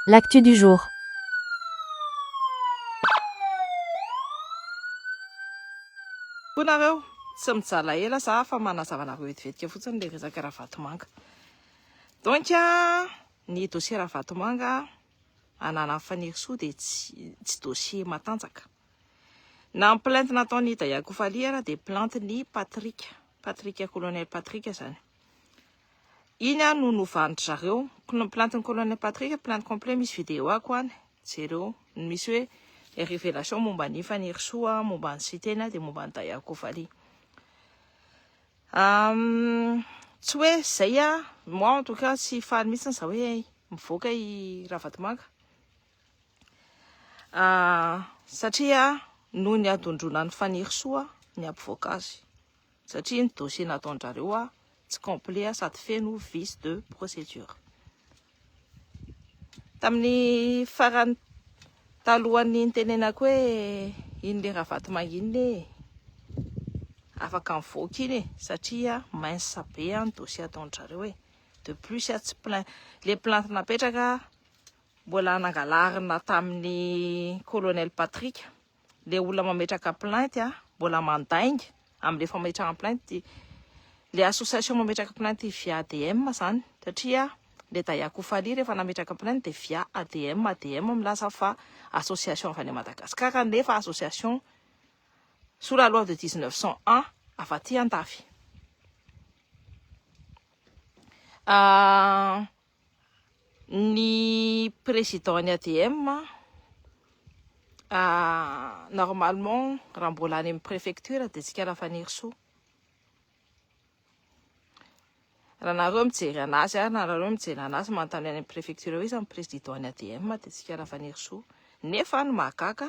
L'actu du jour. Koa nareo tsy mijala ela za fa manazava anareo vetivetika fotsiny le resaka Ravatomanga. Donc ny dossier Ravatomanga ananan'i Fanirisoa dia tsy tsy dossier matanjaka. Na ny plainte nataon'i Ida Yakofaly ary dia plainte-n'i Patrick, Patrick, colonel Patrick zany. Iny aho no novan'dry zareo. Plantin'i Colonel Patrick, plainte complet, misy vidéo ako any, jereo ny misy hoe les révélations momba an'i Fanirisoa, momba an'i Siteny dia momba an'i Daya Kovali. Tsy hoe izay aho, moi en tout cas tsy faly mihitsy izaho hoe mivoaka i Ravatomanga. Satria noho ny adondronan'i Fanirisoa ny hampivoaka azy. Satria ny dossier nataondrareo a tsy complet sady feno vice de procedure. Tamin'ny farany talohan'ny nitenenako hoe iny le Ravatomanga iny le afaka mivoaka iny e satria mince be a ny dossier ataondrareo e. De plus a tsy plainte le plainte napetraka mbola nangalarina tamin'ny colonel Patrick. le olona mametraka plainte a mbola mandainga amle fametrahana plainte le association mametraka plainte via ADM zany satria le Dayako Fally rehefa nametraka plainte de via ADM ADM milaza fa association avy any Madagascar nefa association sous la loi de 1901 avy aty andafy ah Ny président ny ADM normalement raha mbola any amin'ny préfecture dia Tsikera Fanirisoa. Raha nareo mijery anazy ary na nareo mijery anazy manontany any amin'ny préfecture hoe iza ny président ny ADM dia Tsikera Fanirisoa. Nefa ny mahagaga,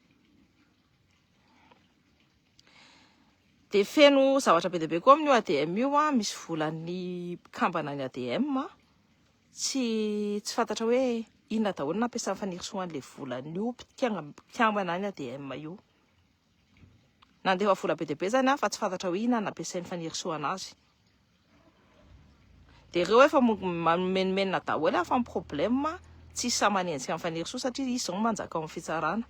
Dia feno zavatra be dia be koa amin'io ADM io, ah, misy volan'ny mpikambana ny ADM, ah. tsy tsy fantatra hoe inona daholo nampiasan'ny fanirisoa an'ilay volan'io mpikambana ny ADM io. Nandefa vola be dia be izany aho fa tsy fantatra hoe inona no nampiasain'ny fanirisoana azy. Dia ireo efa manomenimena daholo fa ny problème tsy sahy manenjika an'i Fanirisoa satria izy izao no manjaka ao amin'ny fitsarana.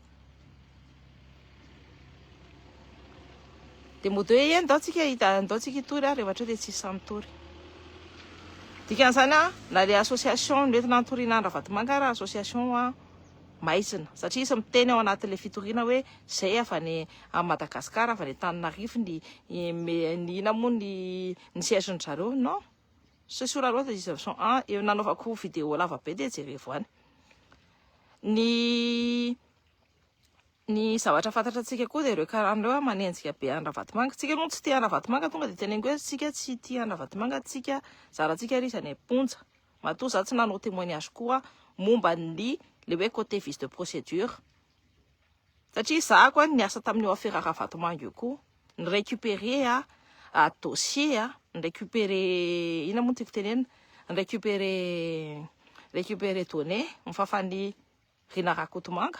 Dia mody hoe eny ndao tsika ndao tsika hitory ary rehefa hatreo dia tsy sahy mitory. Dikan'izany na le association nentina nitoriana any Ravatomanga ary association maizina satria izy miteny ao anatin'ilay fitoriana hoe izay avy any amin'i Madagasikara, avy any Antananarivo ny ny inona moa ny ny siège-ny zareo non, ce sur la loi de 1901 eo nanaovako vidéo lava be dia jerevo any. Ny ny zavatra fantatra antsika koa dia ireo karana ireo ah, manenjika be an'i Ravatomanga, tsika aloha tsy tia an'i Ravatomanga tonga dia teneniko hoe tsika tsy tia an'i Ravatomanga tsika, zara tsika ary izy any am-ponja. Matoa za tsy nanao témoignage koa momba ny le hoe côté vice de procédure satria za ko a niasa tamin'io afera Ravatomanga io koa ni récupérer a dossier a ni récupérer inona moa no tiako tenenina ni récupérer récupérer données ny fafan'i Rina Rakotomanga.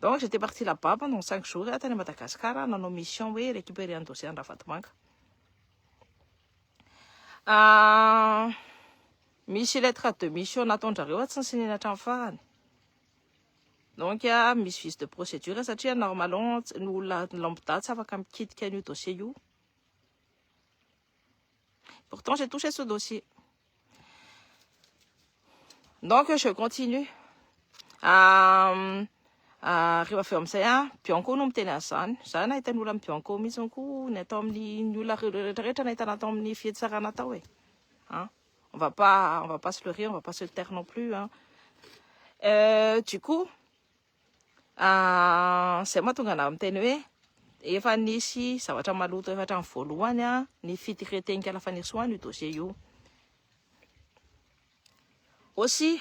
Donc j'étais parti là-bas pendant cinq jours ah, tany Madagascar ah, nanao mission hoe récupérer ny dossier an-dRavatomanga. Ah, misy lettre de mission nataon-dRareo ah, tsy nisinina hatramin'ny farany. Donc ah, misy vice de procédure satria normalement ny olona lambda tsy afaka mikitika an'io dossier io. Pourtant, j'ai touché ce dossier. Donc, je continue. Euh, euh, rehefa avy eo amin'izay a bianco no miteny an'izany za nahita ny olona bianco mihitsy ko ny atao amin'ny olona rehetrarehetra nahitana atao amin'ny fihetsarana atao e a on va pas on va pas se leurrer on va pas se taire non plus a euh, du coup Ah, izay mahatonga anao miteny hoe efa nisy zavatra maloto efa hatramin'ny voalohany ah, ny fitraiten'Ikala Fanirisoa an'io dossier io. Aussi,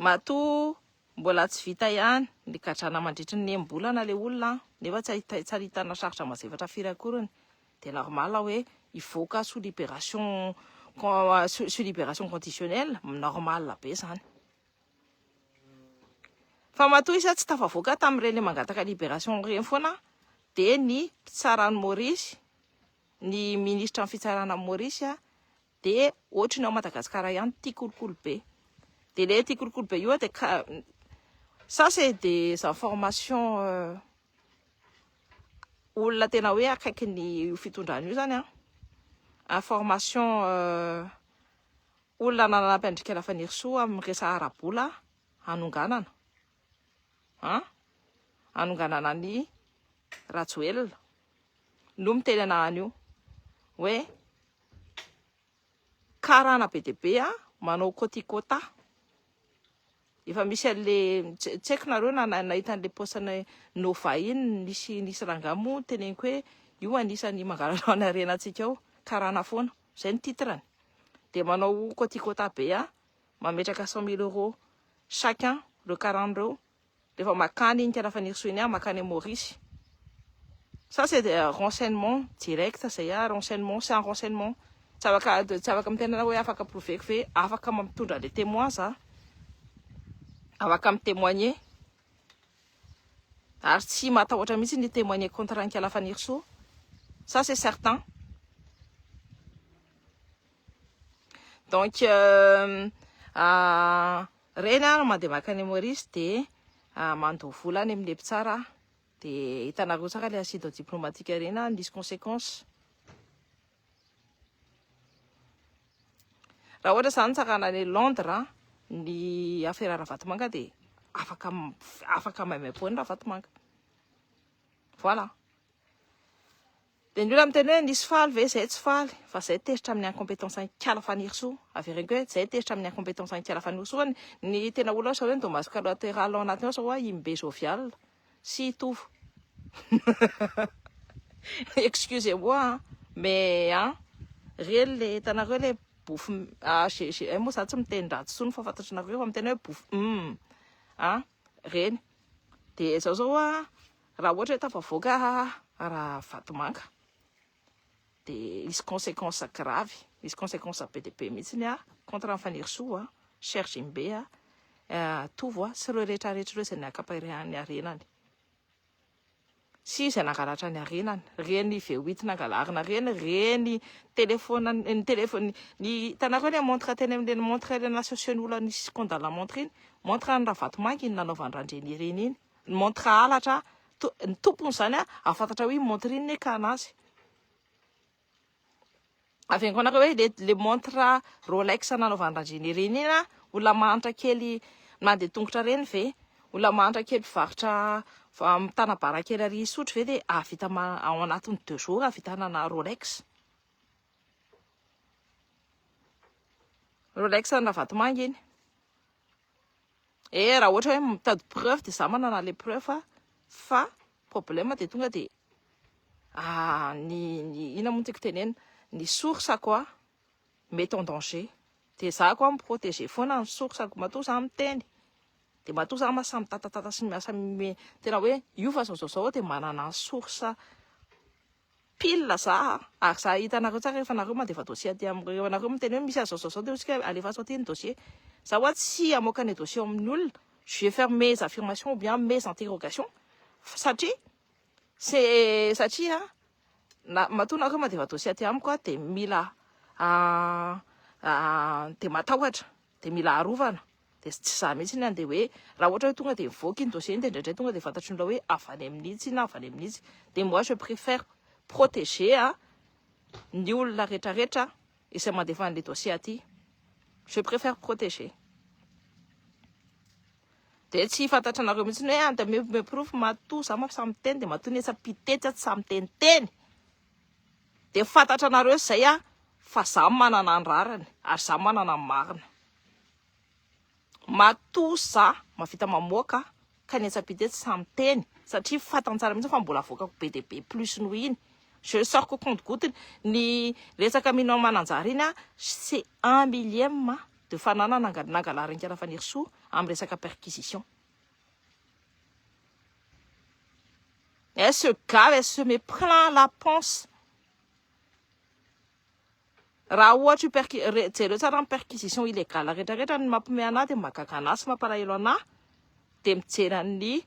matoa mbola tsy vita ihany ny gadrana mandritry ny enim-bolana ilay olona ah, nefa tsy ahita- tsy ahitana sarotra mazefatra firy akoriny, dia normal hoe hivoaka sous libération con- sous sous libération conditionnelle, normal be izany. Fa matoa iza tsy tafavoaka tamin'ireny mangataka libération ireny foana dia ny mpitsara any Maurice, ny ministra ny fitsarana any Maurice dia ohatry ny ao Madagasikara ihany tia kolikoly be. Dia ilay tia kolikoly be io dia ça c'est des informations olona tena hoe akaikin'io fitondrana io izany an, informations Olona nanampy andrikela fanirisoa aminy resa arabola hanonganana an hanonganana an i rajoelina no miteny ana anio hoe karana be dia be an manao kôtikôta Efa misy anle tsy tsy haiko nareo na nahita anle post anay Nova iny nisy nisy rangahy moa teneniko hoe io anisany mangalalao ny harenantsika ao karana foana zay ny titrany de manao koti kota be a mametraka cent mille euro chacun reo karana reo refa makany iny karafanirisoa iny a makany Maurice Ça c'est des renseignements directs izay ah, renseignements, c'est un renseignement. Tsy afaka tsy afaka miteny anao hoe afaka prouver-ko ve, afaka mampitondra an'ilay témoin za, afaka mi-témoigner, ary tsy matahotra mihitsy ny hi-témoigner contre an'Inkala Fanirisoa, ça c'est certain. Donc euh, ah, reny ah mandeha makany Maurice dia ah, mandoa vola any amin'ilay mpitsara aho. De hitanareo tsara le acide diplomatique ireny a, misy consequence. Raha ohatra zany nitsarana any Londres ny afera Ravatomanga de afaka afaka maimaimpoana Ravatomanga. Voilà. Dia ny olona miteny hoe nisy faly ve izay tsy faly fa izay tezitra amin'ny incompétence an'Ikala Fanirisoa. Avereno koa hoe izay tezitra amin'ny incompétence an'Ikala Fanirisoa ny tena olona sao hoe ny dommage collatéral ao anatiny ao sao hoe i Mbe Jovial sy i Tovo. Excusez moi an, mais an, ireny le hitanareo le bof ah j'ai j'ai eh, moa za tsy miteny ratsy intsony fa fantatry nareo fa miteny hoe bof hum an, ireny. Dia izao zao an, Raha ohatra hoe tafavoaka Ravatomanga dia hisy consequence grave, hisy consequence be dia be mihitsy ny contre an'i Fanirisoa a, Sergimbe a, Tovo a sy ireo rehetra rehetra ireo izay niakapa ny harenany sy izay nangalatra ny harenany, ireny V8 nangalarina ireny, ireny telefaona, ny telefaona, ny hitanareo ilay montre teny amin'ireny montre ireny asosian'ny olona nisy scandale montre iny, montre an'i Ravatomanga iny nanaovan'i Randrianirina iny. ny montre halatra ny tompony izany hahafantatra hoe montre inona ekana azy avy any koa hoe le le montre Rolex nanaovany Randriana ireny ina olona mahantra kely mandeha tongotra ireny ve olona mahantra kely mpivarotra amin'ny tanabara kely ary isotry ve dia ahavita ao anatin'ny deux jours ahavitana na Rolex Rolex an'i Ravatomanga iny Eh raha ohatra hoe mitady preuve dia za manana anle preuve a, fa problème dia tonga dia ah ny ny inona moa no tiako tenenina, ny source-ko a mety en danger dia za ko a mi-proteger foana ny source-ko, matoa za miteny dia matoa za mahay samy mitatatata sy miasa tena hoe io fa zao zao zao aho dia manana source, pile za ary za hahita anareo tsara rehefa nareo mandeva dossier aty am rehefa nareo miteny hoe misy azy zao zao de ohatsika hoe alefaso aty ny dossier za hoa tsy hamoaka ny dossier amin'ny olona je vais faire mes affirmations ou bien mes interrogations satria se satria na matoa nareo mandeva dossier aty amiko aho de mila de matahotra de mila arovana Dia tsy za mihitsy ny handeha hoe raha ohatra hoe tonga dia mivoaka iny dossier iny dia indraindray tonga dia fantatry ny olona hoe avy any amin'ny itsy na avy any amin'ny itsy. Dia moi je préfère protéger an ny olona retraretra izay mandefa an'ilay dossier aty. Je préfère protéger. Dia tsy fantatra anareo mihitsy hoe any dia me me porofo matoa za maf samy miteny dia matoa ny etsy pitetsy atsy samy teniteny. Dia fantatra anareo izay an fa za manana ny rariny ary za manana ny marina. Matoa za mahavita mamoaka ka ny etsy ampita etsy tsy miteny satria fantany tsara mihitsy fa mbola avoakako be dia be plus noho iny. Je sors qu'au compte goutte ny resaka Mino Mananjary iny c'est un millième de fananana nangalarin'i Fanirisoa amin'ny resaka perquisition. Elle se gave, elle se met plein la panse. Raha ohatra io perqui, re, jereo tsara ny perquisition illegale rehetra rehetra ny mampiomehy anah dia mahagaga anah sy mampalahelo anah dia mijery an'ny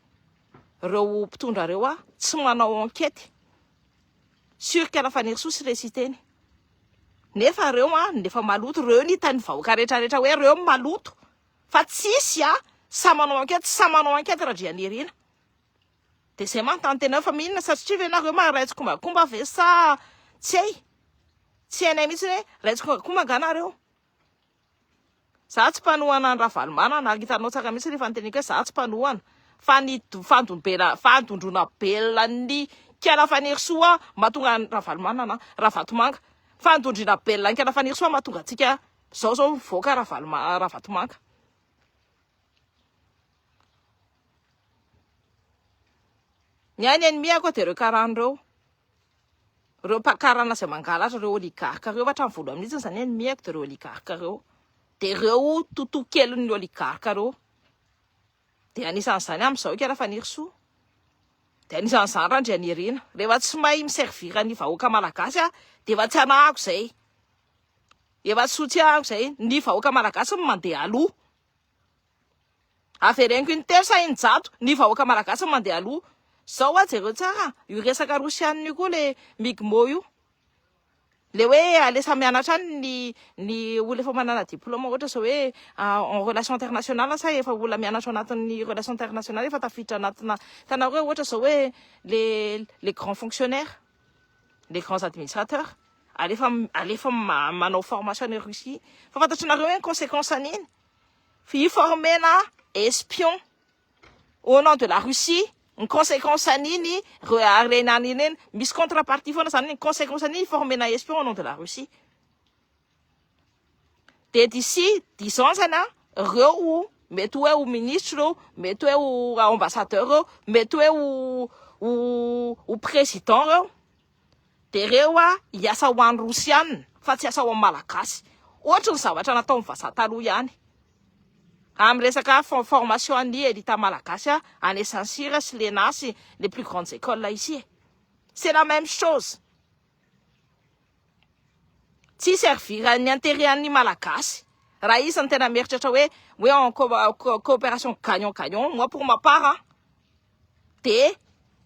reo mpitondra reo aho tsy manao enquete sur quelle fanirisoa sy resy hiteny nefa reo an ny efa maloto reo ny hitan'ny vahoaka rehetra rehetra hoe reo ny maloto fa tsisy an sa manao enquete sa manao enquete Randrianirina Dia izay manontany tena hoe fa inona satria ve nareo maharay tsikombakomba ve sa tsy hay? Tsy hainay mihitsy hoe ray tsikombakomba angaha nareo? Za tsy mpanohana an'i Ravalomanana ary hitanao tsara mihitsy rehefa noteneniko hoe za tsy mpanohana fa ny fandombena- fandondrona belona an'i Kela Fanirisoa mahatonga an'i Ravalomanana an, Ravatomanga. Fandondrina belona an'i Kela Fanirisoa no mahatonga antsika izao izao mivoaka Ravaloma- Ravatomanga. Ny ahy ny ennemie-ko dia ireo karana ireo, ireo mpakarana izay mangalatra, ireo oligarques ireo fa hatramin'ny voalohany mihitsy aza ny ennemie-ko dia ireo oligarques ireo, dia ireo totoakelin'ny oligarques ireo, dia anisan'izany amin'izao ika Rafanirisoa, dia anisan'izany Randrianirina, rehefa tsy mahay mi-servir ny vahoaka malagasy aho dia efa tsy anahako izay, efa tsy ho tsiahiko izay, ny vahoaka malagasy no mandeha aloha. Avereniko in-telo sa in-jato ny vahoaka malagasy no mandeha aloha. Zao wa jereo tsara io resaka rosianina io koa le migmo io. Le hoe alesa mianatra any ny ny olona efa manana diploma ohatra zao hoe en relation internationale sa efa olona mianatra ao anatin'ny relation internationale efa tafiditra anatina hitanareo hoe ohatra zao hoe le le grand fonctionnaire, le grands administrateurs alefa alefa manao formation any Russie fa fantatrareo hoe ny consequence an'iny. Hi-former-na espion au nom de la Russie, ny consequence an'iny ireo harena any ireny, misy contre-partie foana izany, ny consequence an'iny hi-former-na espion au nom de la Russie dia d'ici dix ans zany an, ireo mety hoe ho ministra ireo, mety hoe ho ambassadeur ireo, mety hoe ho ho president ireo. Dereo a hiasa ho any rosianina fa tsy hiasa ho any malagasy ohatry ny zavatra nataony vazaha taloha ihany amin resaka formation an'ny elita malagasy a any saint cyr sy lena sy les plus grandes écoles ici e c'est la même chose tsy hi servir ny interet an'ny malagasy raha izy no tena mieritreritra hoe hoe en coopération gagnant gagnant moi pour ma part an dia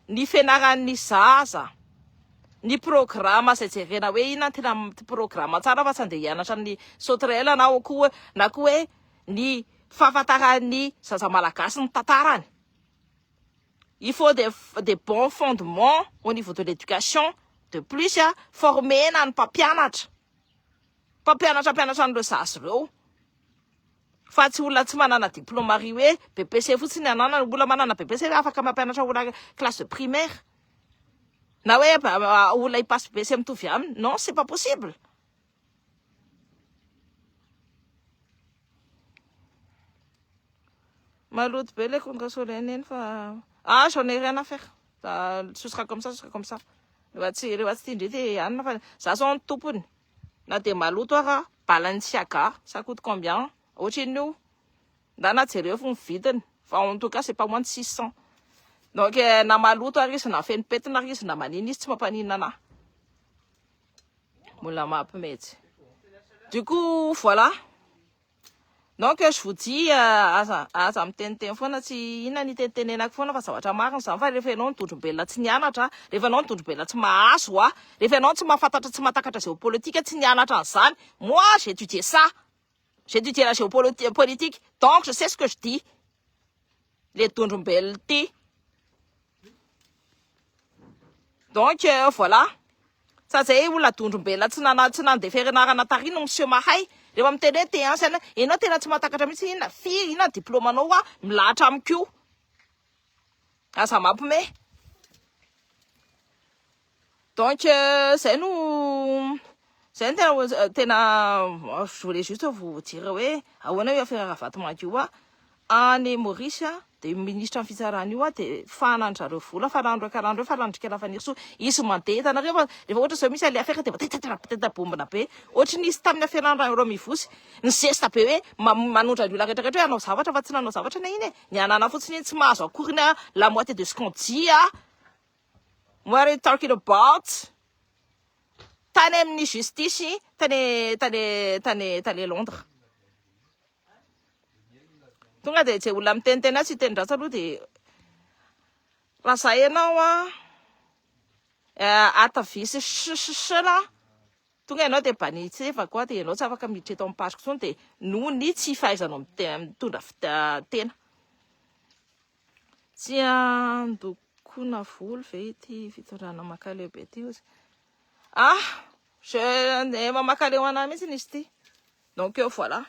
ny fianaran'ny zaza, ny programa izay jerena hoe inona no tena programa tsara fa tsy andeha hianatra amin'ny sauterelles ianao koa, na koa hoe ny fahafantaran'ny zaza malagasy ny tantarany, il faut des des bons fondements au niveau de l'éducation, de plus former-na ny mpampianatra, mpampianatra hampianatra an'ireo zaza ireo. Fa tsy olona tsy manana diploma ry hoe BPC fotsiny ananana, olona manana BPC ve afaka mampianatra olona classe de primaire? Na hoe olona hipasse BEC mitovy aminy? Non, c'est pas possible. Maloto be le kontra soleil neny fa ah j'en ai rien à faire. Ce sera comme ça, ce sera comme ça. Rehefa tsy rehefa tsy tia ndrety anona fa za zao ny tompony. na dia maloto ara bala ny siaga ça coute combien ohatrin'io na na jereo fo ny vidiny fa en tout cas c'est pas moins de six cents donc na maloto ary izy na feno pentina ary izy na manina izy tsy mampaninona anah mbola mampimetsy du coup voilà Non que je vous dis aza aza miteniteny foana tsy inona ny itenitenenako foana fa zavatra marina izany fa rehefa ianao nidondrombelona tsy nianatra rehefa ianao nidondrombelona tsy mahazo a rehefa ianao tsy mahafantatra tsy mahatakatra géopolitique tsy nianatra an'izany moi j'ai étudié ça j'ai étudié la géopolitique donc je sais ce que je dis le dondrombelona ity. Donc euh, voilà. Sa zay olona dondrombelona tsy nana tsy nandeha fianarana tary no miseho mahay. Rehefa miteny hoe te hansa ianao tena tsy matakatra mihitsy inona firy inona diplôme anao wa milahatra amiko. Aza mampime. Donc zay no zay no tena tena je voulais juste vous dire hoe ahoana io affaire Ravatomangy io hoa any Maurice dia io ministra ny fitsarana io hoa dia fahanany zareo vola fa rano reka rano reo fa randrika Rafanirosoa izy mandeha hitanareo fa rehefa ohatra zao misy any affaire dia mba teta bombona be ohatry ny nisy tamin'ny affaire any Rahairao Mivosy ny zesta be hoe manondra ny olona rehetra rehetra hoe hanao zavatra fa tsy nanao zavatra ny iny e ny anana fotsiny iny tsy mahazo akory ny la moitié de ce qu'on dit a What are you talking about? Tany amin'ny justice tany tany tany tany Londres. Tonga dia izay olona miteniteny azy hiteny ratsy aloha dia raha za ianao a eh, ata visy sisisela tonga ianao dia banitsevako a dia ianao tsy afaka miditra eto amin'ny page-ko intsony dia noho ny tsy fahaizanao mite- mitondra fita- tena. Tsy handokona volo ve ity fitondrana makaleo be ity ozy? Ah, je efa makaleo anah mihitsy izy ity. Donc euh, voilà.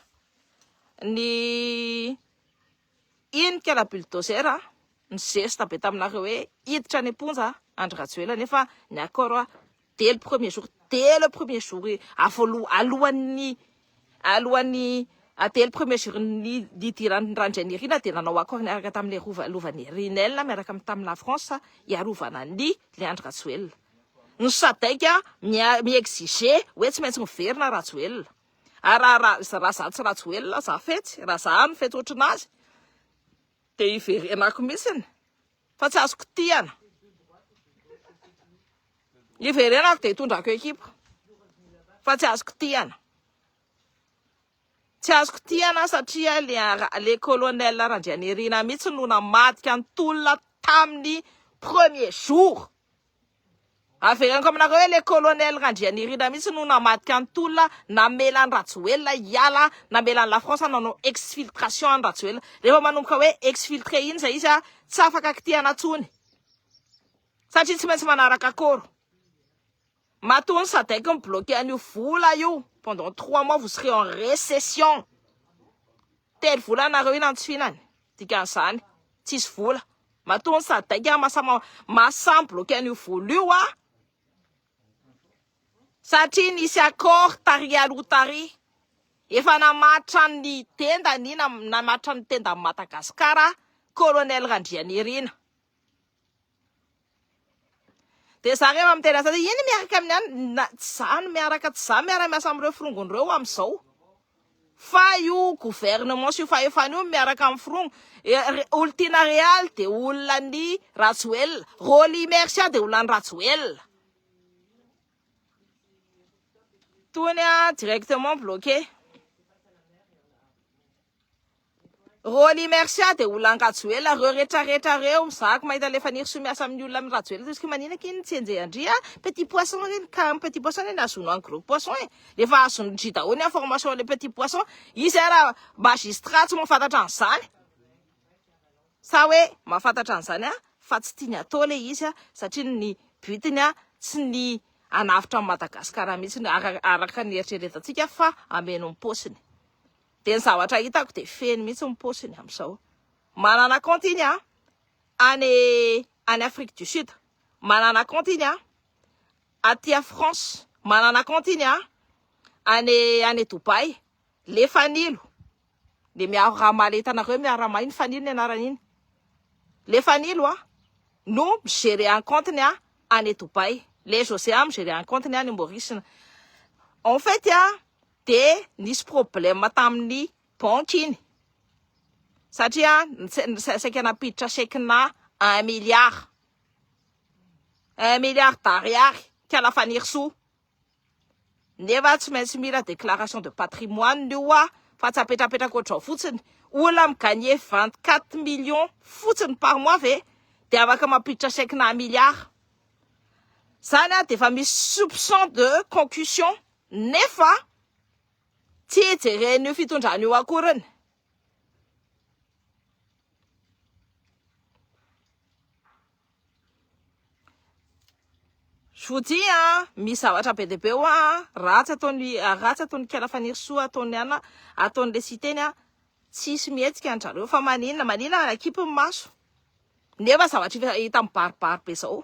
Ny iny kala bulldozer ah, ny zesta be taminareo hoe hiditra any am-ponja Andry Rajoelina nefa ny accord dès le premier jour, dès le premier jour avoaloha alohan'ny alohan'ny dès le premier jour ny nidiran'ny Randrianirina dia nanao accord niaraka tamin'ilay rova lovan'i Rinel miaraka amin'ny tamin'ny la France hiarovana an'i Leandro Rajoelina. Ny Sadec mia- mi-exiger hoe tsy maintsy miverina Rajoelina. Ary raha raha raha za tsy Rajoelina za fetsy, raha za no fetsy ohatry ny azy dia hiverenako mihitsy. Fa tsy azo kitihana. Hiverenako dia hitondrako ekipa. Fa tsy azo kitihana. Tsy azo kitihana satria le colonel Randrianirina mihitsy no namadika ny tolona tamin'ny premier jour. Averiko aminareo hoe le colonel Randrianirina mihitsy no namadika ny tolona namela an'i Rajoelina hiala, namela an'i la France nanao exfiltration an'i Rajoelina. Rehefa manomboka hoe exfiltré iny izay izy tsy afaka kitihana intsony satria tsy maintsy manaraka accord. Matoa ny sadec mi-bloquer an'io vola io pendant trois mois vous serez en recession. Telo volana nareo io nantsofinany. Dikan'izany tsisy vola. Matoa ny sadec an masa masa mi-bloquer an'io vola io an. Satria nisy accord tary aloha tary. Efa namatra ny tendany, namatra ny tendan'i Madagasikara colonel Randrianirina. Dia za rehefa miteny azy aty, ino miaraka amin'ny any? Na, tsy za no miaraka, tsy za miara miasa amin'ireo forongony ireo amin'izao. Fa io gouvernement sy io fahefana io no miaraka amin'ny forongo. E, re- Olon-tiana Real dia olona an'i Rajoelina. Rolly Immersia dia olona an'i Rajoelina. Tony an, directement bloqué. Rolly Mercia dia olona any Rajoelina reo retra retra reo za ko mahita le Fanirisoa miasa aminy olona aminy Rajoelina toy izy ko manina kin tsy enjehy andry a petit poisson reny ka aminy petit poisson reny azono any gros poisson e refa azono ndry daholo ny information le petit poisson izy ara magistrat tsy mafantatra anizany sa hoe mafantatra anizany a fa tsy tiany atao le izy a satria ny but ny a tsy ny anavotra any Madagascar mitsy araka ny eritreretan tsika fa ameno am posiny Dia ny zavatra hitako dia feno mihitsy ny paosiny amin'izao. Manana compte iny an, any any Afrique du Sud, manana compte iny an, aty à France, manana compte iny an, any any Dubaï, le fanilo, le miaro raha maleta anareo miara maha iny fanilo ny anarany iny, le fanilo an, no mi gérer any compte ny any Dubaï, le José an mi gérer any compte ny any Maurice, en fait an, dia nisy problème tamin'ny banky iny satria saika nampiditra chèque-na un milliard un milliard d'ariary kala Fanirisoa nefa tsy maintsy mila déclaration de patrimoine ny oa fa tsy apetrapetraka ohatrao fotsiny olona mi-gagner vingt quatre millions fotsiny par mois ve dia afaka mampiditra chèque-na un milliard izany dia efa misy soupçon de concussion Nefa tsy jeren'io fitondrana io akory ny. Je vous dis a, misy zavatra be dia be hoa ratsy ataon'i ratsy ataon'i Kela Fanirisoa ataon'i Anna ataon'ilay Siteny a, tsisy mihetsika an-dry zareo fa maninona maninona ary akipy ny maso nefa zavatra hita mibaribary be zao.